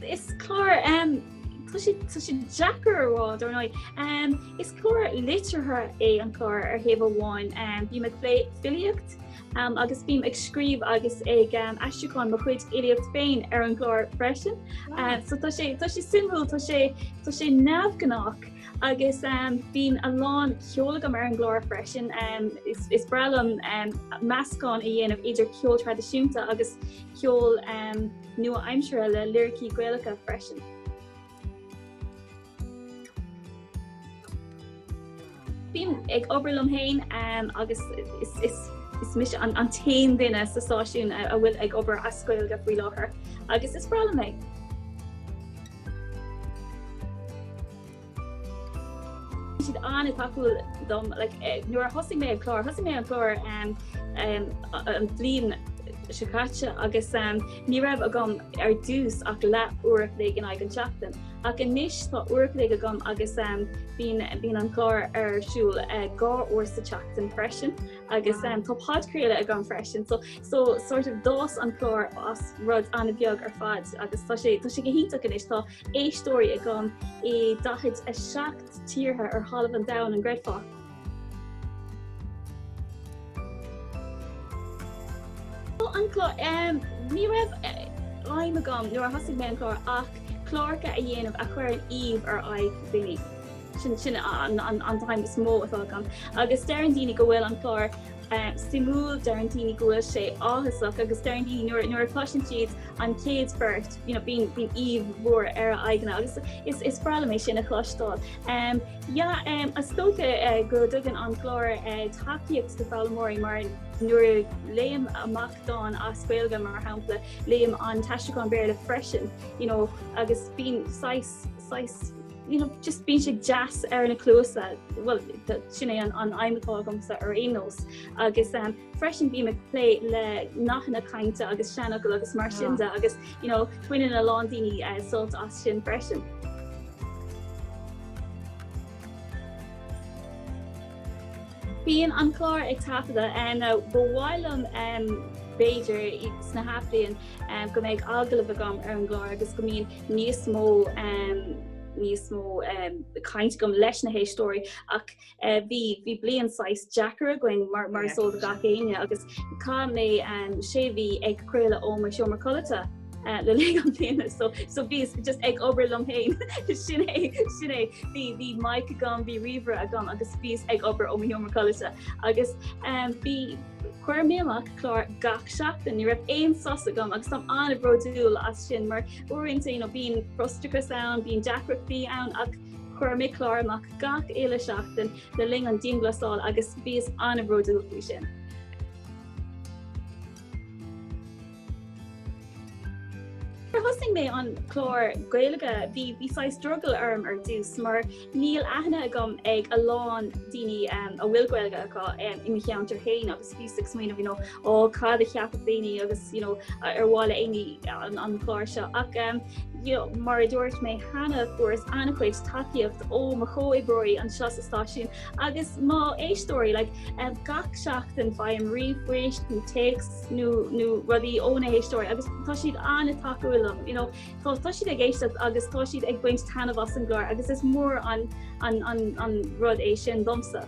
Is clár tá sé deacair a rá I dunno is clár liteartha é an clár ar thaobh amháin, bím ag plé filíocht agus bím ag scríobh agus ag aistriúcháin mo chuid fhilíocht féin ar an gclár freisin. So tá sé tá sé suimiúil, tá sé tá sé neamhghnách agus bíonn a lán ceoil agam ar an gclár freisin. Is is breá liom meascán a dhéanamh idir ceol traidisiúnta agus ceol nua-aimseartha le liricí Gaelacha freisin. Bím ag obair liom féin agus is mise an t-aon duine sa stáisiún a bhfuil ag obair as Gaeilge faoi láthair agus is breá liom é. Bhí siad an-tacúil dom nuair a thosaigh mé an clár. Thosaigh mé an clár an bhliain seo caite agus. Ní raibh agam ar dtús ach leathuair an chloig in aghaidh an tseachtain, ach anois tá uair an chloig agam agus bíonn an clár ar siúl dhá uair sa tseachtain freisin, agus tá podchraoladh agam freisin, so so sort of d'fhás an clár as rud an-bheag ar fad agus tá sé tá sé go hiontach anois, tá éisteoirí agam i 47 tíortha ar chlár an domhain an gcreidfeá? So an clár. Ní raibh aidhm agam nuair a thosaigh mé an clár ach cláracha a dhéanamh a chuireann aoibh ar aghaidh daoine. Sin sin an t-aidhm is mó atá agam. Agus deireann daoine go bhfuil an clár suimiúil, deireann daoine go bhfuil sé áthasach agus deireann daoine nuair nuair a chloiseann siad an chéad phort, you know, bíonn bíonn aoibh mhór ar a aghaidheanna agus is is breá liom é sin a chloisteáil. Yeah, is dócha go dtugann an clár tacaíocht do fhoghlaimeoirí mar nuair a léim amach dán as Gaeilge, mar shampla, léim an t-aistriúchán Béarla freisin, you know, agus bíonn saghas, saghas, you know, just bíonn sé deas ar na cluasa, bhuel, sin é an aidhm atá agamsa ar aon nós, agus. Freisin bím ag plé le nathanna cainte agus seanfhocail agus mar sin de agus you know baineann a lán daoine sult as sin freisin. Bíonn an clár ag taifeadadh ar na ba mhaith liom b'fhéidir san athbhliain go mbeidh agallamh agam ar an gclár agus go mbíonn níos mó níos mó caint agam leis na héisteoirí ach eh, bhí bhí bliain saghas deacair againn mar mar is eol do gach éinne agus cá mé um, sé bhíos ag craoladh ó mo sheomra codlata. Uh, le linn na bliana so so bhíos just ag obair liom féin sin é sin é bhí bhí mic agam bhí ríomhaire agam agus bhíos ag obair ó mo sheomra codlata agus um, bhí chuir mé amach clár gach seachtain ní raibh aon sos agam agus táim an-bhródúil as sin mar uaireanta you know bíonn frustrachas ann bíonn deacrachtaí ann ach Chuireamar mo chlár amach gach uile seachtain le linn an dianghlasáil agus bhíos an-bhródúil faoi sin. Nuair a thosaigh mé an clár Gaeilge bhí saghas struggle orm ar dtús mar níl aithne agam ag a lán daoine a bhfuil Gaeilge acu i mo cheantar féin agus Bhíos ag smaoineamh, you know, ó cad a cheapfadh daoine agus, you know, ar mhaith le héinne an clár seo. Ach, you know, mar a dúirt mé cheana, fuaireas an-chuid tacaíocht ó mo chomhoibreoirí anseo sa stáisiún agus mo chuid éisteoirí. Like, gach seachtain faighim ríomhphoist nó téacs nó nó rudaí ó na héisteoirí agus tá siad an-tacúil liom, you know. Tá tá siad ag éisteacht agus tá siad ag baint taitneamh as an gclár agus is mór an an an an rud é sin domsa.